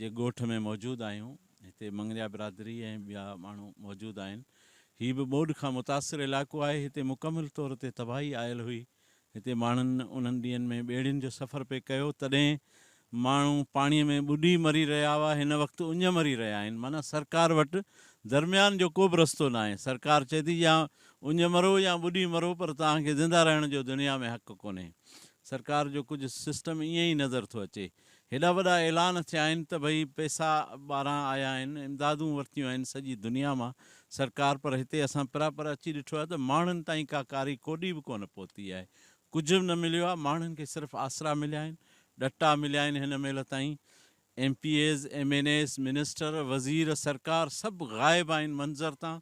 جي ڳوٺ ۾ موجود آهيون هتي مڱريا برادري ۽ ٻيا ماڻهو موجود آهن هي به ٻوڏ کان متاثر علائقو آهي هتي مڪمل طور تي تباهي آيل هئي هتي ماڻهن انهن ڏينهن ۾ ٻيڙين جو سفر پئي ڪيو تڏهن ماڻهو پاڻي ۾ ٻڏي مري رهيا هئا هن وقت اڃ مري رهيا آهن معنيٰ سرڪار وٽ درميان جو ڪوبه رستو ناهي سرڪار چئي ٿي يا اڃ مرو يا ٻڏي مرو پر توهان کي زنده رهڻ جو دنيا ۾ حق ڪونهي سرڪار جو ڪجهه سسٽم ائين ئي نظر ٿو اچي هيڏا وڏا اعلان ٿيا آهن ته ڀئي پئسا ٻاهران آيا آهن، امدادون ورتيون آهن سڄي دنيا مان سرڪار پر هتي اسان پرا پر اچي ڏٺو آهي ته ماڻهن تائين ڪا ڪاري ڪوڏي به ڪونه پهتي آهي، ڪجهه به نه مليو آهي، ماڻهن کي صرف آسرا مليا آهن، ڏٽا مليا آهن هن مهل تائين M P As, M N As, minister, وزير، سرڪار سڀ غائب آهن منظر تان،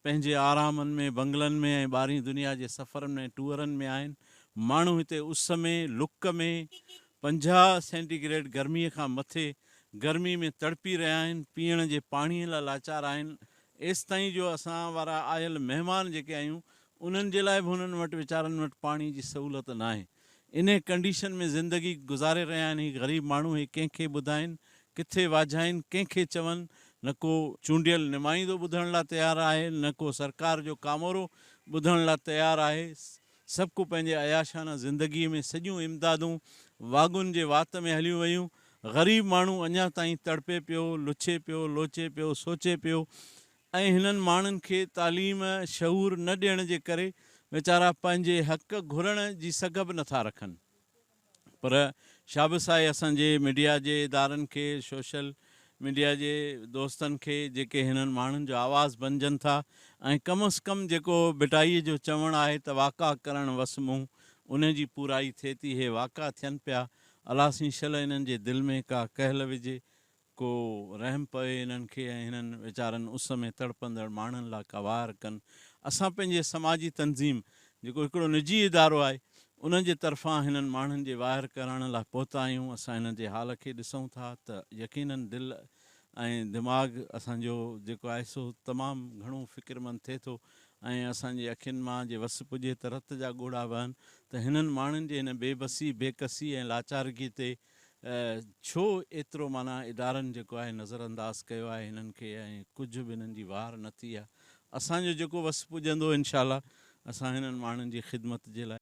پنهنجي آرامن ۾، بنگلن ۾ ۽ ٻاهرين دنيا جي سفرن ۾ ۽ ٽوئرن ۾ آهن. ماڻهو هتي اس ۾، لڪ ۾، پنجاهه سينٽي گريڊ گرمي کان مٿي گرمي ۾ تڙپي رهيا آهن، پيئڻ جي پاڻي لاء لاچار آهن، ايستائين جو اسان وارا آيل مهمان جيڪي آهيون، انهن جي لاء به هنن وٽ ويچارن وٽ پاڻي جي سهولت ناهي. انهي ڪنڊيشن ۾ زندگي گذاري رهيا آهن هي غريب ماڻهو هي ڪنهن کي ٻڌائين ڪٿي واجهائين ڪنهن کي چون نه ڪو چونڊيل نمائيندو ٻڌڻ لا تيار آهي نه ڪو سرڪار جو ڪامورو ٻڌڻ لا تيار آهي سڀ ڪو پنهنجي عياشانه زندگي ۾ سڄيون امدادون واڳن جي وات ۾ هليون ويون غريب ماڻهو اڃا تائين تڙپي پيو لڇي پيو لوچي پيو سوچي پيو ۽ هنن ماڻهن کي تعليم شعور نه ڏيڻ جي ڪري ويچارا پنهنجي حق گهرڻ جي سگهه به نٿا رکن پر شابس آهي اسان جي ميڊيا جي ادارن کي سوشل ميڊيا جي دوستن کي جيڪي هنن ماڻهن جو آواز بنجن ٿا ۽ ڪم از ڪم جيڪو ڀٽائي جو چوڻ آهي ته واقع ڪرڻ وس مون انهي جي پورائي ٿئي ٿي هي واقع ٿين پيا الا سين شل هنن جي دل ۾ ڪا ڪهل وجهي ڪو رحم پوي انهن کي ۽ هنن ويچارن اس ۾ تڙپندڙ ماڻهن لا ڪوار ڪن. اسان پنهنجي سماجي تنظيم جيڪو هڪڙو نجي ادارو آهي ان جي طرفان هنن ماڻهن جي واهر ڪرڻ لا پهتا آهيون. اسان هنن جي حال کي ڏسون ٿا ته يقيناً دل ۽ دماغ اسان جو جيڪو آهي سو تمام گهڻو فڪرمند ٿئي ٿو ۽ اسان جي اکين مان جي وس پڄي ته رت جا ڳوڙها وهن ته هنن ماڻهن جي هن بي بسي، بي ڪسي ۽ لاچارگي تي ڇو ايترو معنيٰ ادارن جيڪو آهي نظر انداز ڪيو آهي هنن کي ۽ ڪجهه به هنن جي واهر نه ٿي آهي اسان جو جيڪو وس پڄندو انشاء الله اسان هنن ماڻهن جي خدمت جي لاء